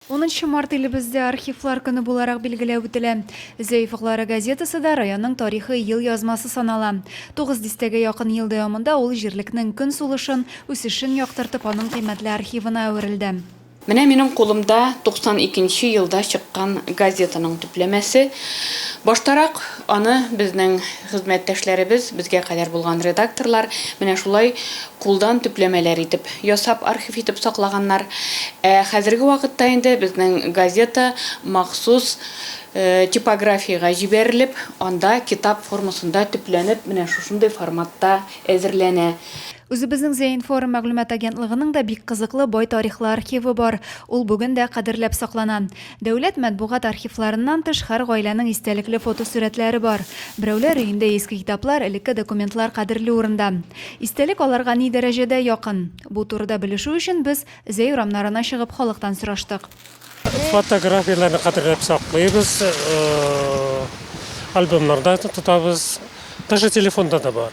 Унынчы март илебездә Архивлар көне буларак билгеләп үтелә. Зәиф Гълара газетасы да районның тарихи елъязмасы санала. Тугыз дистәгә якын ел дәвамында ул җирлекнең көн сулышын, үсешен яктыртып, аның кыйммәтле архивына әверелде. Менә минем кулымда 92 нче елда чыккан газетаның төпләмәсе. Баштарак аны безнең Хезмәттәшләребез, безгә кадәр булган редакторлар менә шулай кулдан төпләмәләр итеп ясап, архив итеп саклаганнар. Ә хәзерге вакытта инде безнең газета махсус типографиягә җибәрелеп, анда китап формасында төпләнеп, менә шушындый форматта әзерләнә. Үзебезнең Зәинформ мәгълүмат агентлыгының да бик кызыклы, бай тарихлы архивы бар. Ул бүген дә кадерләп саклана. Дәүләт матбугат архивларыннан тыш һәр гаиләнең истәлекле фотосурәтләре бар. Берәүләр өендә иске китаплар, элекке документлар кадерле урында. Истәлек аларга ни дәрәҗәдә якын? Бу турыда белешү өчен без Зәй урамнарына чыгып халыктан сораштык. Фотографияләрне кадерләп саклыйбыз, альбомнарда тотабыз, даже телефонда да бар.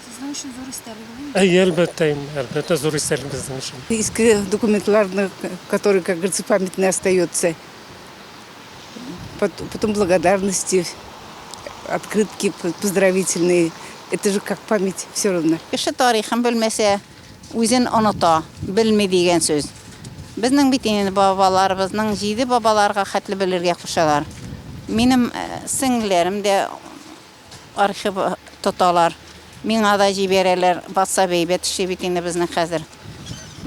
Сезнең өчен зур истәлек инде. Әйе, әлбәттә инде, әлбәттә зур истәлек безнең өчен. Иске документларны, которые, как говорится, памятные остается. Потом благодарности, открытки поздравительные. Это же как память все равно. Кеше тарихын белмәсә, үзен оныта, белми дигән сүз. Безнең бит инде бабаларыбызның җиде бабаларга хәтле белергә кушалар. Минем сеңлеләрем дә Архив тоталар. Миңа да җибәрәләр. Ватсап әйбәт эшли бит инде безнең хәзер.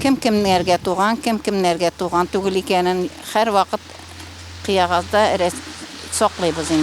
Кем кемнәргә туган, кем кемнәргә туган түгел икәнен һәрвакыт кыягазда саклыйбыз инде.